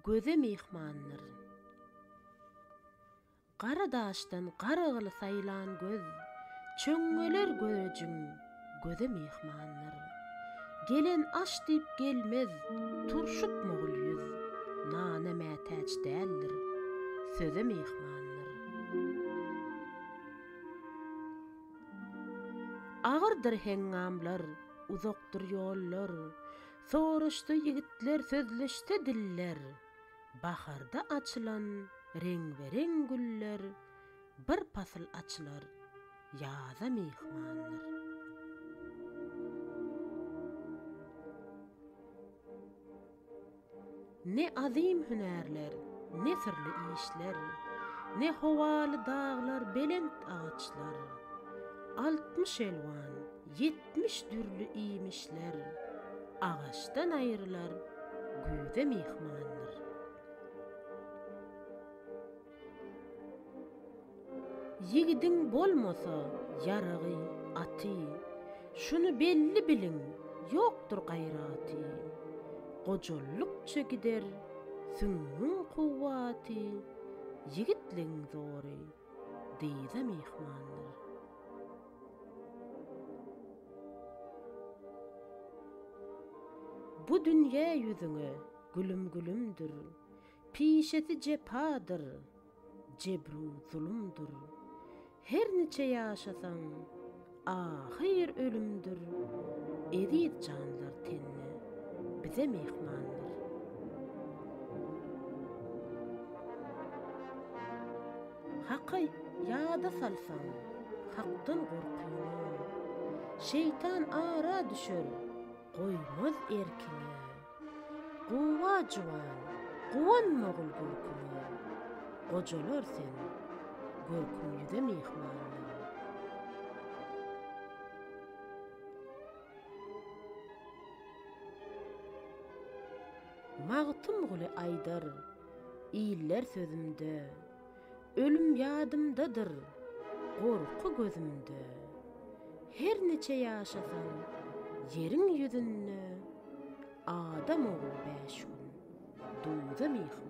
Göze myhmandyr. Gara daşdan Garagyly saýlan göz, Çöňňeler görejiň, göze myhmandyr. Gelen aş diýip gelmez, turşuk mogul ýüz, Nana mätäç däldir, söze myhmandyr. Agyrdyr heňňamlar, uzakdyr ýollar, Soraşsa ýigitler, sözleşse diller, Baharda açylan reňbe-reň güller, Bir pasyl açylar, ýaza myhmandyr. Ne azym hünärler, ne syrly işler, Ne howaly daglar, belent agaçlar, Altmyş elwan, ýetmiş dürli iýmişler, Agaçdan aýrylar, güýze myhmandyr. Ýigidiň bolmasa ýaragy, aty, Şuny belli biliň, ýokdur gaýraty. Gojallykça gider süňňüň kuwwaty, Ýigitligiň zory, dyza myhmandyr. Bu dünýe ýüzüňe gülüm-gülümdir, Pişesi jepadyr, jebru zulumdyr. Her niçe ýaşasaň, ahyr ölümdir. Eziz janlar tenne, bize myhmandyr. Haka ýada salsaň, hakdan gorkyňy. Şeýtan ara düşer, goýmaz erkiňi. Gowa juwan, guwanma ogul görküme, Gojalar sen, görküm ýüze myhmanda. Magtymguly aýdar, iller sözümde, Ölüm ýadymdadyr, gorky gözümde. Her niçe ýaşasam, ýeriň ýüzünde Adam ogly bäş gün duza myhmandyr.